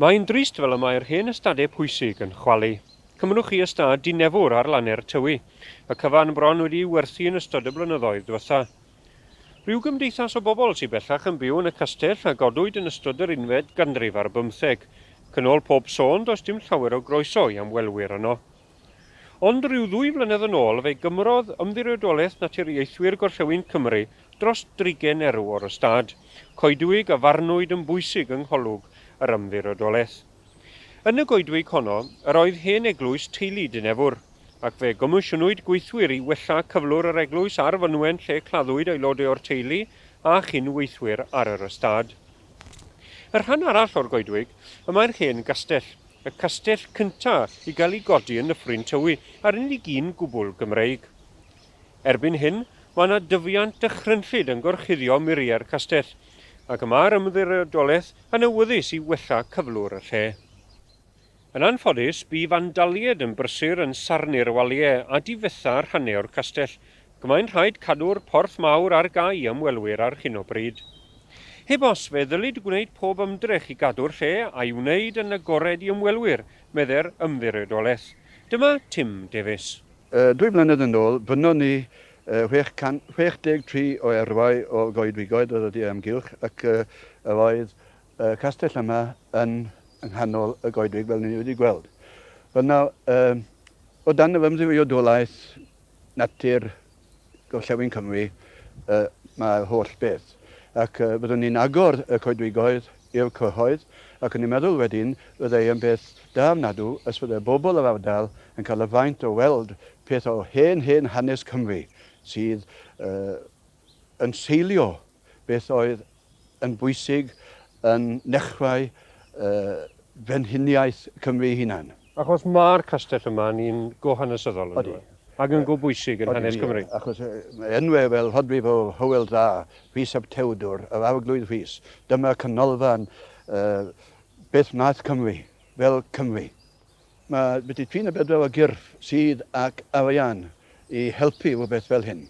Mae'n drist fel y mae'r hen ystadau pwysig yn chwalu. Cymerwch chi ystâd dinefwr ar Lanne'r Tywi, y cyfan bron wedi'i werthu yn ystod y blynyddoedd dwetha. Rhyw gymdeithas o bobl sy bellach yn byw yn y castell a godwyd yn ystod yr unfed ganrif ar bymtheg. Cyn ol pob sôn does dim llawer o groeso i amwelwyr yno. Ond ryw ddwy flynedd yn ôl fe gymrodd Ymddiriedolaeth Naturiaethwyr Gorllewin Cymru dros drigen erw o'r ystâd coedwig a farnwyd yn bwysig yng ngholwg yr Ymddiriedolaeth. Yn y goedwig honno yr oedd hen eglwys teulu Dinefwr, ac fe gomisiynwyd gweithwyr i wella cyflwr yr eglwys a'r fynwen lle claddwyd aelodau o'r teulu a chyn-weithwyr ar yr ystâd. Y rhan arall o'r goedwig, y mae'r hen gastell. y castell cyntaf i gael ei godi yn Nyffryn Tywi, a'r unig un gwbl Gymreig. Erbyn hyn, mae yna dyfiant dychrynllyd yn gorchuddio muriau'r castell, ac mae'r Ymddiriedolaeth yn awyddus i wella cyflwr y lle. Yn anffodus, bu fandaliaid yn brysur yn sarnu'r waliau a difetha rhannau o'r castell, Mae'n rhaid cadw'r Porth Mawr ar gau i ymwelwyr ar hyn o bryd. Heb os, fe ddylid gwneud pob ymdrech i gadw'r lle a'i wneud yn agored i ymwelwyr, meddai'r Ymddiriedolaeth. Dyma Tim Davies. Dwy flynedd yn ôl, brynon ni 663 o erwau o goedwigoedd yr yrru amgylch ac yr oedd y castell yma yn nghanol y goedwig fel ni wedi gweld. Wel nawr, o dan yr ymddiriodolaeth natur Gorllewin Cymru yy mae holl beth ac yy fyddwn ni'n agor y coedwigoedd i'r cyhoedd ac o'n i'n meddwl wedyn fyddai yn beth da ofnadw os fyddai bobl yr ardal yn cael y fraint o weld peth o hen hen hanes Cymru sydd yy yn seilio beth oedd yn bwysig yn nechrau Frenhiniaeth Cymru ei hunan. Achos mae'r castell yma yn un go hanesyddol, yn dyw e? Ac yn go bwysig yn hanes Cymru. Odi, achos mae enwau fel Rhodriff o Hywel Dda, Rhys ap Tewdwr, yr Arglwydd Rhys, dyma canolfan beth wnaeth Cymru, fel Cymru. Mae wedi trin y bedwar o gyrff sydd ac arian i helpu rhywbeth fel hyn.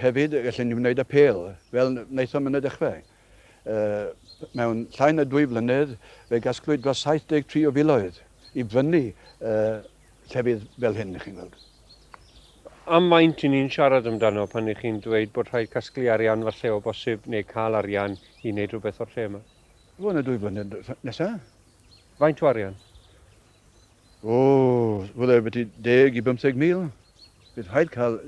Hefyd, gallen ni wneud apêl, fel wnaethom yn y dechrau. Mewn llai na dwy flynedd, fe gasglwyd dros 73 o filoedd i brynu llefydd fel hyn, chi'n gweld. Am faint i ni'n siarad amdano pan i chi'n dweud bod rhaid casglu arian falle o bosib neu cael arian i wneud rhywbeth o'r lle yma? Bron a dwy flynedd nesaf. Faint o arian? O, fydde ambiti deg i bymtheg mil. Bydd rhaid cael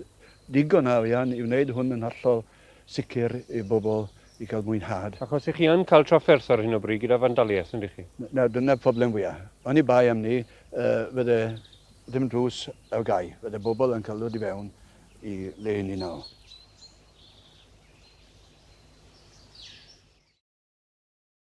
digon o arian i wneud hwn yn hollol sicr i bobl i cael mwynhad. Achos i chi yn cael trafferth ar hyn o bryd gyda fandaliaeth, yndych chi? Nawr, dyna'r problem fwya'. Oni bai am 'ny, fydde dim drws ar gau. Fydde bobl yn cael dod i fewn i le 'yn ni nawr.